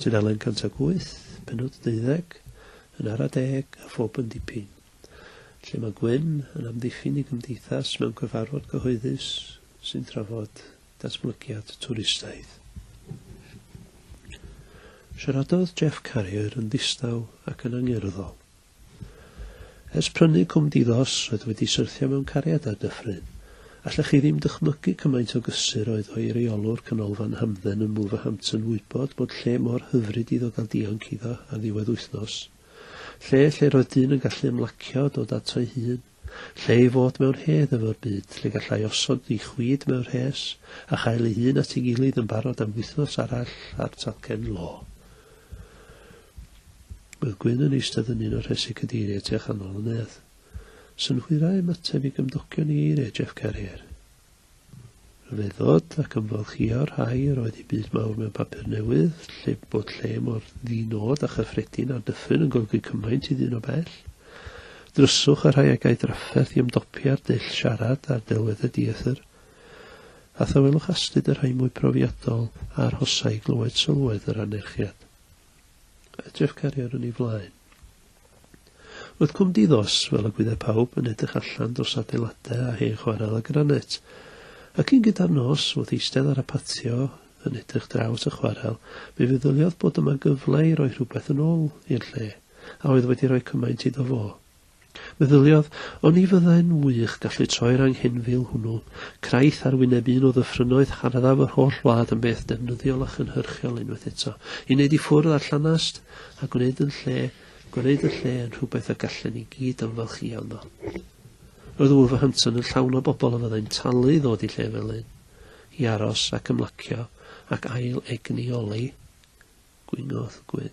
Tudalen 108, pennod 12, yn ara deg a phob yn dipyn, lle mae Gwyn yn amddiffyn i gymdeithas mewn cyfarfod cyhoeddus sy'n trafod datblygiad twristaidd. Siaradodd Jeff Carrier yn ddistaw ac yn angerddol Ers prynu Cwm Di-ddos, roedd wedi syrthio mewn cariad â Dyffryn. Allech chi ddim dychmygu cymaint o gysur oedd o i reolwr Canolfan Hamdden yn Wolverhampton wybod bod lle mor hyfryd iddo gael dianc iddo ar ddiwedd wythnos. Lle lle roedd dyn yn gallu ymlacio a dod ato'i hun. Lle ei fod mewn hedd efo'r byd, lle gallai osod ei chwid mewn rhes, a chael ei hun at ei gilydd yn barod am wythnos arall ar talcen lo. Roedd Gwyn yn eistedd yn un o'r rhesi cadeiriau tu a chanol y nedd. Synhwyrau ymateb i gymdogion i eiriau Jeff Carrier. Rhyfeddod ac ymfalchïo rhai yr oedd i byd mawr mewn papur newydd, lle bod lle mor ddi-nod a chyffredin a Dyffryn yn golygu cymaint i ddyn o bell. Dryswch a rhai a gai drafferth i ymdopi â'r dull siarad a'r delweddau dieithr. A thawelwch astud y rhai mwy profiadol a arhosai i glywed sylwedd yr anerchiad. Edrych cariad yn ei flaen. Roedd Cwm Diddos, fel y gwyddai pawb, yn edrych allan dros adeiladau a hen chwarel a granet. A cyn gyda'r nos, wrth eistedd ar y patio yn edrych draw at y chwarel, mi feddyliodd bod yma gyfle i roi rhywbeth yn ôl i'r lle a oedd wedi rhoi cymaint iddo fo. Meddyliodd, O'n i fyddai'n wych gallu troi'r anghenfil hwnnw, craith ar wyneb un o ddyffrynnoedd harddaf yr holl wlad yn beth defnyddiol a chynhyrchiol unwaith eto, i wneud i ffwrdd â'r llanast, a gwneud yn lle, gwneud y lle yn rhywbeth y gallen ni gyd ymfalchïo ynddo. Roedd Wolverhampton yn llawn o bobl a fyddai'n talu i ddod i lle fel un, i aros ac ymlacio ac ail egni olew gwingodd gwyn.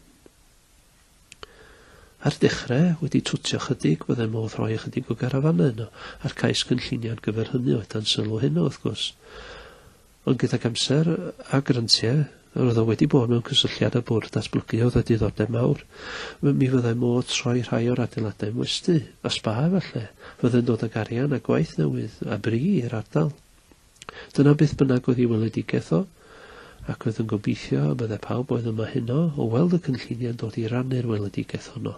Ar dechrau, wedi twtio ychydig, byddai modd rhoi ychydig o garafanau yno, a'r cais cynllunio ar gyfer hynny oedd dan sylw heno, wrth gwrs. Ond gydag amser a grantiau, roedd o wedi bod mewn cysylltiad â bwrdd datblygu oedd â diddordeb mawr, mi fyddai modd troi rhai o'r adeiladau yn westy, a sba efallai, fyddai'n dod ag arian a gwaith newydd, a bri, i'r ardal. Dyna beth bynnag oedd ei weledigaeth o, ac roedd yn gobeithio y bydde pawb oedd yma heno o weld y cynlluniau'n dod i rannu'r weledigaeth honno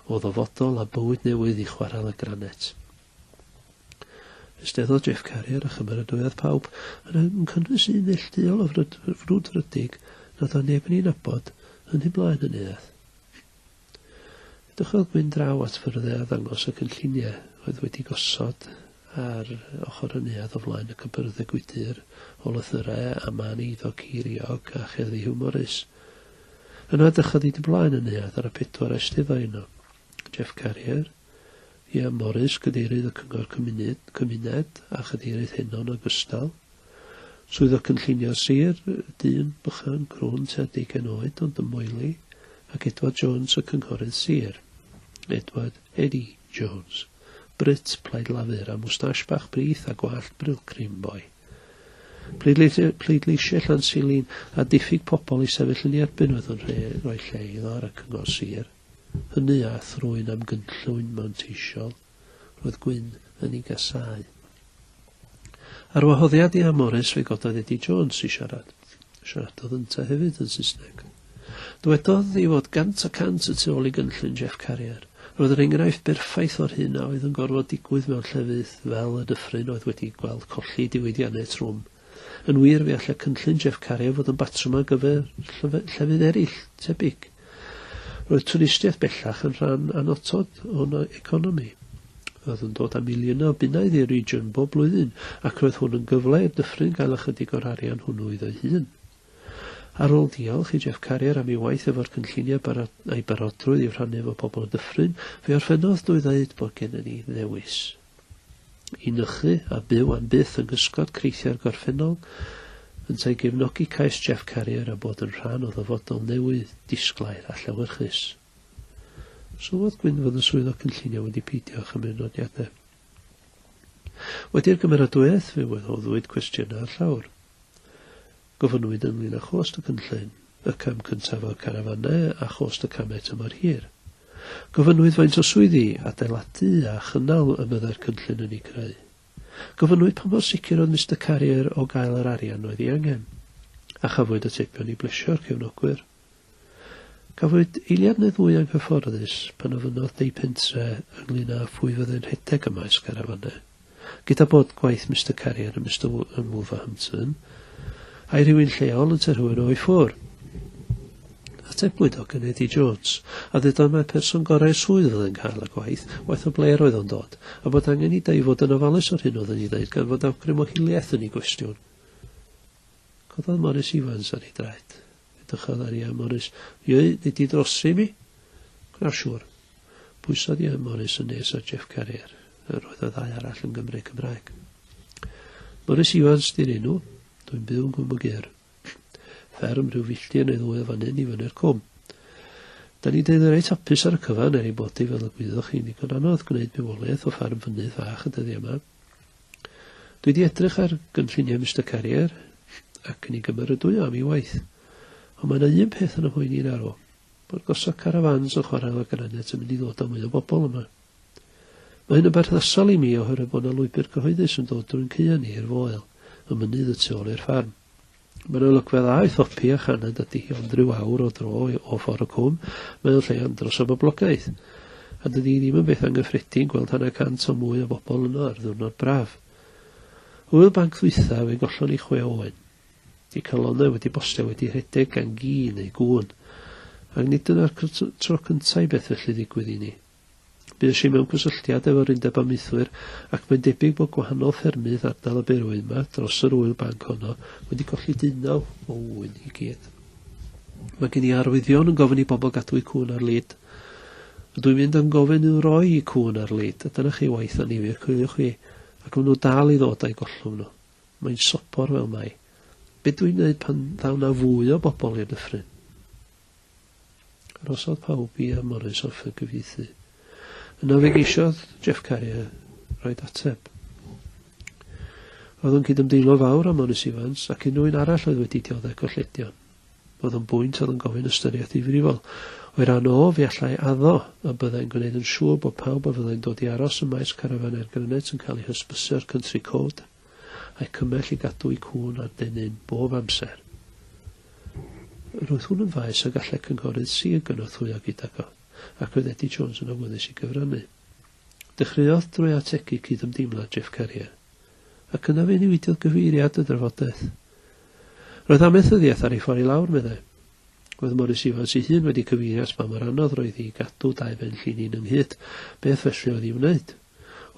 o ddyfodol a bywyd newydd i Chwarel y Granet. Ysteddodd Jeff Carrier a chymeradwyaodd pawb, yn yn cynnwys un neillduol o frwd, frwdfrydig nad oedd neb yn ei nabod, yn hyn blaen yn neuadd. Dychwelwch mynd draw at fy rhyddhau a ddangos y cynlluniau oedd wedi gosod ar ochr y neuadd o flaen y cybyrdde gwydr o lythyrau a mân eiddo ceiriog a cherddi hiwmorus. Yna dychwelwch hyd ymlaen y neuadd ar y pedwar a eisteddodd yno, Jeff Carrier, Ieuan Morris, Cadeirydd y Cyngor Cymuned, Cymuned a Chadeirydd Heno yn ogystal. Swyddog Cynllunio Sir, dyn bychan, crwn, tua deugain oed, ond yn moeli, ac Edward Jones, y Cynghorydd Sir. Edward, Eddie, Jones. Brut, Plaid Lafur, a mwstash bach brith a gwallt brilcrim, boi. Pleidleisiau, pleidleisiau Llansilin, a diffyg pobl i sefyll yn ei erbyn oedd yn rhoi lle iddo ar y Cyngor Sir. hynny a thrwy'n amgynllwyn manteisiol, roedd Gwyn yn ei gasáu. Ar wahoddiad Ian Morris fe gododd Eddie Jones i siarad. Siaradodd ynte hefyd yn Saesneg. Dywedodd ei fod gant y cant y tu ôl i gynllun Jeff Carrier. Roedd yr enghraifft berffaith o'r hyn a oedd yn gorfod digwydd mewn llefydd fel y dyffryn oedd wedi gweld colli diwydiannau trwm. Yn wir, fe all y cynllun Jeff Cario fod yn batrwm ar gyfer llefydd eraill tebyg. Roedd twristiaeth bellach yn rhan annotod o'n economi. Roedd yn dod â miliynau o bunnoedd i'r region bob blwyddyn ac roedd hwn yn gyfle i'r dyffryn gael ychydig o'r arian hwnnw iddo'i hun. Ar ôl diolch i Jeff Carrier am ei waith efo'r cynlluniau a'i barodrwydd i'w rhannu efo pobl y dyffryn, fe orffennodd drwy ddeud bod gennym ni ddewis. i nychu a byw am byth yng nghysgod creithio'r gorffennol, yntau gefnogi cais Jeff Carrier a bod yn rhan o ddyfodol newydd, disglair a llewyrchus. Sylwodd Gwyn fod y Swyddog Cynllunio wedi peidio â chymryd nodiadau. Wedi'r gymeradwyaeth fe wahoddwyd cwestiynau ar llawr. Gofynnwyd ynglŷn â chost y cynllun, y cam cyntaf o'r carafanau a chost y camau tymor hir. Gofynnwyd faint o swyddi, adeiladu a chynnal y byddai'r cynllun yn eu creu. Gofynnwyd pa mor sicr oedd Mister Carrier o gael yr arian oedd ei angen. A chafwyd atebion i blesio'r cefnogwyr. Cafwyd eiliad neu ddwy anghyfforddus pan ofynnodd Dei Pentre ynglŷn â phwy fyddai'n rhedeg y maes garafannau. Gyda bod gwaith Mister Carrier a Mister Wo yn Wolverhampton, ai rhywun lleol yn te rhywun o'i ffwr? Atebwyd o gan Eddie Jones, a ddudodd mai'r person gorau'r swydd fyddai'n cael y gwaith, waeth o ble yr oedd o'n dod, a bod angen i Dei fod yn ofalus o'r hyn oedd yn ei ddeud gan fod awgrym o hiliaeth yn ei gwestiwn. Cododd Morris Evans ar ei draed. Edrychodd ar Ian Morris. Ie, nei di drosi mi? Gwna siŵr. Pwysodd Ian Morris yn nes ar Jeff Carrier, a roedd y ddau arall yn Gymru Cymraeg. Morris Iwans di'r enw, dwi'n byw yn Gwm y Gur. Fferm rhyw filltir neu ddwy o fan hyn i fyny'r cwm. Da ni dweud reit hapus ar y cyfan er ei bod i fel y gwyddoch chi'n ddigon anodd gwneud bywoliaeth o ffarm fynydd fach y dyddiau yma. Dwi wedi edrych ar gynlluniau Mister Carrier ac yn ei gymeradwyo am ei waith. Ond mae yna un peth yn y mhoeni i'n arw, bod gosod carafans yn chwarae efo'r granit yn mynd i ddod â mwy o bobl yma. Mae hyn yn berthnasol i mi oherwydd bod yna lwybr cyhoeddus yn dod drwy'n caeau ni i'r Foel, y mynydd y tu ôl i'r ffarm. Mae'n olygfa dda i thopi a chaned ydy hi, ond rhyw awr o dro o ffordd y cwm, mae'n lle andros o boblogaeth. A dydy hi ddim yn beth anghyffredin gweld hanner cant o mwy o bobl yno ar ddiwrnod braf. Hwyl banc ddwytha, fe gollon ni chwe oen. Di calonau wedi bostio wedi rhedeg gan gi neu gŵn. Ac nid dyna'r tro cyntaf i beth felly ddigwydd i ni. Bues i mewn cysylltiad efo'r Undeb Amaethwyr ac mae'n debyg bod gwahanol ffermydd ardal y berwyn yma dros yr ŵyl banc honno wedi colli deunaw o ŵyn i gyd. Mae gen i arwyddion yn gofyn i bobl gadw eu cŵn ar lid. Ydw i'n mynd yn gofyn i'w roi i cŵn ar lid, a dyna chi waith anifir coeliwch chi, ac maen nhw dal i ddod a'i gollwng nhw. Mae'n sobor fel mai. Be dwi'n neud pan ddaw na fwy o bobl i'r dyffryn? Arhosodd pawb i a Morris offer gyfieithu. Yna fe geisiodd Jeff Carrier roed ateb. Roedd o'n cydymdeimlo fawr â Morris Evans ac unrhyw un arall oedd wedi dioddef golledion. Roedd o'n bwynt oedd yn gofyn ystyriaeth ddifrifol. O'i ran o, fe allai addo a byddai'n gwneud yn siŵr bod pawb a fyddai'n dod i aros ym maes carafan er grynet yn cael ei hysbysu o'r Country Code. a'u cymell i gadw'u cŵn ar dennyn bob amser. Roedd hwn yn faes y gallai Cynghorydd Sir gynorthwyo gydag o, ac roedd Eddie Jones yn awyddus i gyfrannu. Dechreuodd drwy ategu cyd-ymdeimlad Jeff Carrier, ac yna fe newidiodd gyfeiriad y drafodaeth. Roedd amaethyddiaeth ar ei ffordd i lawr, meddai. Roedd Morris Evans ei hun wedi cyfeirio at ba mor anodd roedd i gadw dau ben llin un ynghyd, beth felly oedd i'w wneud?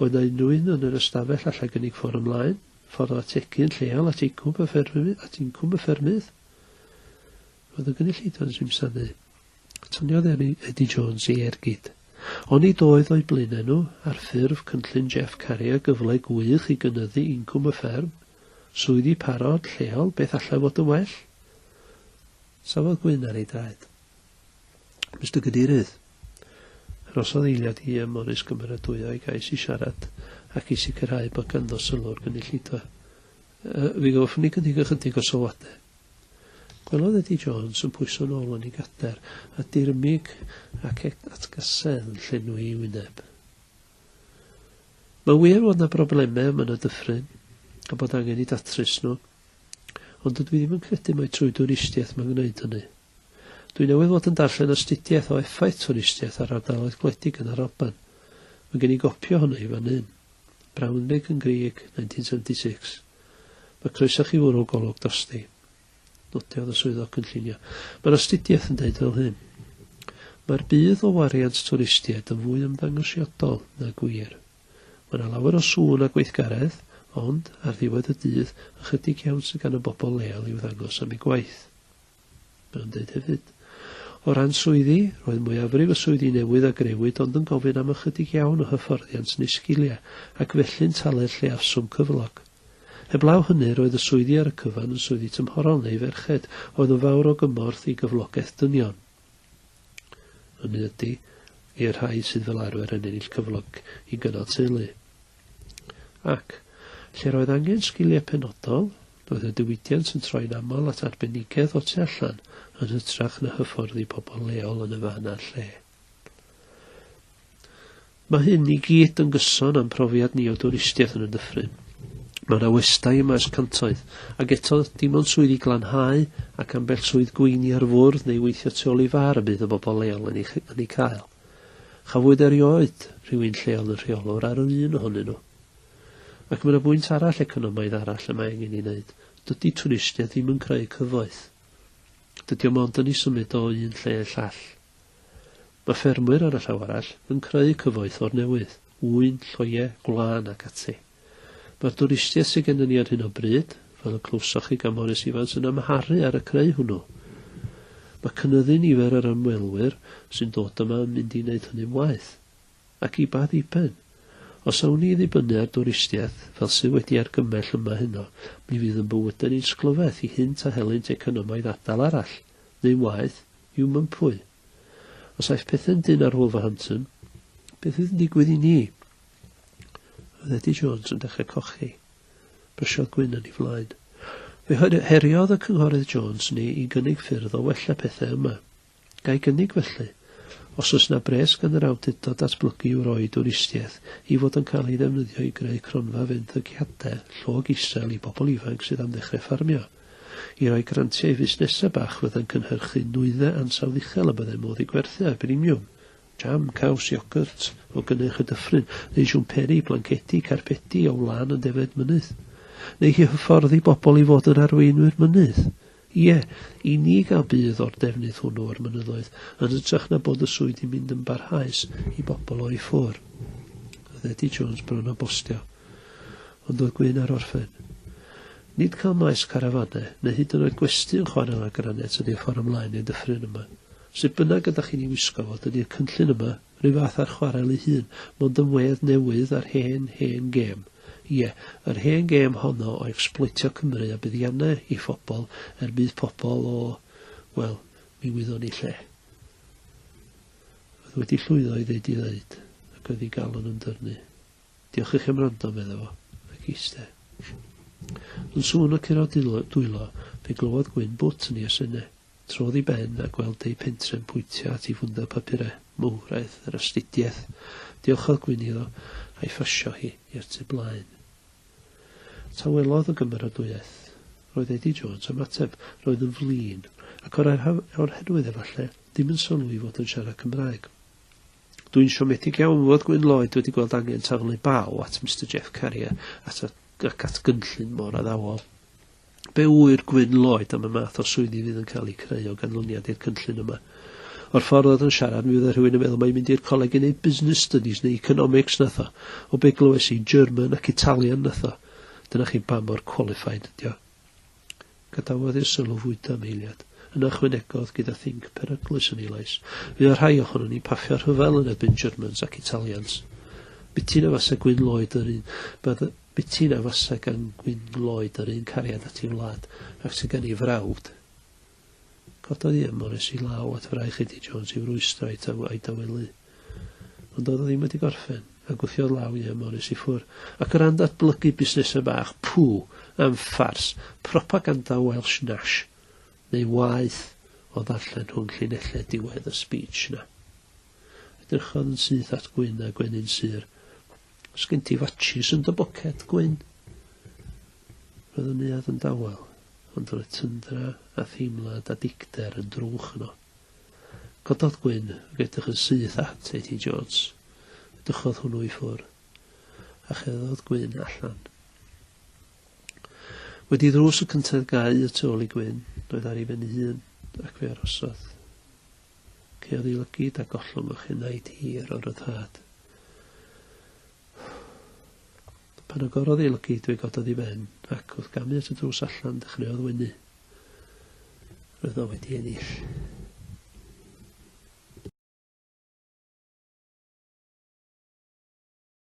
Oedd 'na unrhyw un yn yr ystafell allai gynnig ffordd ymlaen, ffordd o ategu yn lleol at incwm y ffermydd? Roedd y gynulleidfa'n yn simsanu. Taniodd Eddie Jones ei ergyd. Oni doedd o'u blaenau nhw, ar ffurf cynllun Jeff Carrier gyfle gwych i gynyddu incwm y fferm, swyddi parod, lleol, beth allai fod yn well? Safodd gwyn ar ei draed. Mister Cadeirydd, arhosodd eiliad i ym Morris gymeradwyo ei gais i siarad ac i sicrhau bod ganddo sylw o'r gynulleidfa. Yy, fi goffwn i gynnig ychydig o sylwadau. Gwelodd Eddie Jones yn pwyso'n ôl yn ei gader a dirmyg ac e- atgasedd yn llenwi ei wyneb. Mae'n wir fod 'na broblemau a mae 'na dyffryn, a bod angen i datrys nhw, ond dydw i ddim yn credu mai trwy dwristiaeth mae'n gwneud hynny. Dwi newydd fod yn darllen astudiaeth o effaith twristiaeth ar ardaloedd gwledig yn yr Alban. Mae gen i gopi ohono hi fan hyn. Braunweg yn Grieg, 1976. Mae croeso chi fwrw golwg drosti. Nodiodd y swyddog cynllunio. Mae'r astudiaeth yn dweud fel hyn. Mae'r budd o wariant twristiaid yn fwy ymddangosiadol na gwir. Mae yna lawer o sŵn a gweithgaredd, ond, ar ddiwedd y dydd, ychydig iawn sydd gan y bobl leol i'w ddangos am eu gwaith. Mae o'n dweud hefyd, O ran swyddi, roedd mwyafrif y swyddi newydd a grëwyd ond yn gofyn am ychydig iawn o hyfforddiant neu sgiliau ac felly'n talu'r lleiafswm cyflog. Heblaw hynny, roedd y swyddi ar y cyfan yn swyddi tymhorol neu ferched oedd yn fawr o gymorth i gyflogaeth dynion. Hynny ydy, i'r rhai sydd fel arfer yn ennill cyflog i gynnal teulu. Ac, lle roedd angen sgiliau penodol, roedd y diwydiant yn troi'n aml at arbenigedd o tu allan yn hytrach na hyfforddi pobl leol yn y fan a'r lle. Mae hyn i gyd yn gyson am profiad ni o dwristiaeth yn y dyffryn. Mae yna westai y maes cantoedd, ac eto, dim ond swyddi glanhau ac ambell swydd gweini ar fwrdd neu weithio tu ôl i far y bydd y bobl leol yn ei, yn ei cael. Chafwyd erioed rhywun lleol yn rheolwr ar yr un ohonyn nhw. Ac mae yna bwynt arall economaidd arall y mae angen ei wneud, dydy twristiaeth ddim yn creu cyfoeth. Dydy o mond yn ei symud o un lle i'r llall. Mae ffermwyr, ar y llaw arall, yn creu cyfoeth o'r newydd, ŵyn, lloiau, gwlân ac ati. Mae'r dwristiaeth sydd gennym ni ar hyn o bryd, fel y clywsoch chi gan Morris Evans, yn amharu ar y creu hwnnw. Mae cynyddu nifer yr ymwelwyr sy'n dod yma yn mynd i wneud hynny'n waeth. Ac i ba ddiben? Os awn ni i ddibynnu ar dwristiaeth, fel sydd wedi argymell yma heno, mi fydd yn bywydau ni'n sglyfaeth i hynt a helynt economaidd ardal arall, neu'n waeth, i'w mympwy. Os aeth pethau'n dynn ar Wolverhampton, beth fydd yn digwydd i ni? Oedd Eddie Jones yn dechrau cochi. Brysiodd gwyn yn ei flaen. Fe heriodd y Cynghorydd Jones ni i gynnig ffyrdd o wella pethau yma. Gai gynnig felly? Os oes na bres gan yr awdurdod datblygu i'w roi dwristiaeth i fod yn cael ei ddefnyddio i greu cronfa fenthygiadau llog isel i bobl ifanc sydd am ddechrau ffarmio, i roi grantiau i fusnesau bach fyddai'n cynhyrchu nwyddau ansawdd uchel y byddai modd i gwerthu ar brimiwm, Jam, caws, iogwrt o gynnyrch y dyffryn, neu siwmperi, blancedi, carpedi o wlân yn defaid mynydd? Neu i hyfforddi bobl i fod yn arweinwyr mynydd? Ie, i ni gael budd o'r defnydd hwnnw o'r mynyddoedd, yn hytrach na bod y swydd yn mynd yn barhaus i bobl o'i ffwr. Oedd Eddie Jones bron a bostio. Ond oedd Gwyn ar orffen. Nid cael maes carafanau, neu hyd yn oed gwesty yn chwarae â granet ydy'r ffordd ymlaen i'r dyffryn yma. Sut bynnag, ydych chi'n ei wisgo fo, dydi'r cynllun yma, rhyw fath â'r chwarel ei hun, mond yn wedd newydd a'r hen, hen gêm. Ie, yr hen gêm honno o ecsbloetio Cymru a buddiannau ei phobl er budd pobl o, wel, mi wyddwn i lle. Oedd wedi llwyddo i ddeud i ddeud, ac oedd ei galon yn dyrnu. Diolch i chi am wrando, medda fo, ac eiste. Yn sŵn o curo dwylo, fe glywodd Gwyn bwt yn ei asenne. Trodd i ben a gweld ei phentrefn pwyntio at ei fwndar papurau mowr aeth yr astudiaeth. Diolchodd Gwyn iddo, a'i phasio hi i'r tu blaen. Tawelodd y gymeradwyaeth. Roedd Eddie Jones am ateb. Roedd yn flin, ac o'r oherwydd efalle, ddim yn sylwi fod yn siarad Cymraeg. Dw i'n siomedig iawn fod Gwyn Lloyd wedi gweld angen taflu baw at Mister Jeff Carrier at y, ac at gynllun mor addawol. Be ŵyr Gwyn Lloyd am y math o swyddi fydd yn cael eu creu o ganlyniad i'r cynllun yma? O'r ffordd oedd yn siarad, mi fydde rhywun yn meddwl mae'n mynd i'r coleg i wneud business studies neu economics nath o. O be glywes i, German ac Italian nath o. Dyna chi ba mor qualified ydi o. Gadawodd i'r sylw fwydo am eiliad, yna ychwanegodd gyda thinc peryglus yn ei lais, Fuodd rhai ohonon ni'n paffio rhyfel yn erbyn Germans ac Italians. Biti na fase Gwyn Lloyd yr un, bydda, biti na fase gan Gwyn Lloyd yr un cariad at ei wlad ac sydd gan ei frawd. Cododd i ym Morris i law at fraich Eddie Jones i'w rwystro a'i taw a'i dawelu. Ond doedd o ddim wedi gorffen, a gwthiodd law i ym Morris i ffwr. Ac o ran datblygu busnesau bach, pŵ, am ffars, propaganda Welsh Nash, neu waeth o ddarllen rhwng llinellau diwedd y speech 'na. Edrychodd yn syth at Gwyn a Gwenyn Sur. Os gen ti fatshis yn dy boced, Gwyn? Roedd y neuadd yn dawel. ond roedd tyndra a theimlad a dicter yn drwch yno. Cododd Gwyn ag edrych yn syth at Eddie Jones. Dychodd hwnnw i ffwrdd, a cheddodd Gwyn allan. Wedi ddrws y cyntedd gau y tu ôl i Gwyn, roedd ar ei ben ei hun, ac fe arosodd. Ceodd ei lygid a gollwng o'ch enaid hir o ryddhad. Pan agorodd ei lygid, fe gododd i ben, ac, wrth gamu at y drws allan, dechreuodd wenu. Roedd o wedi ennill.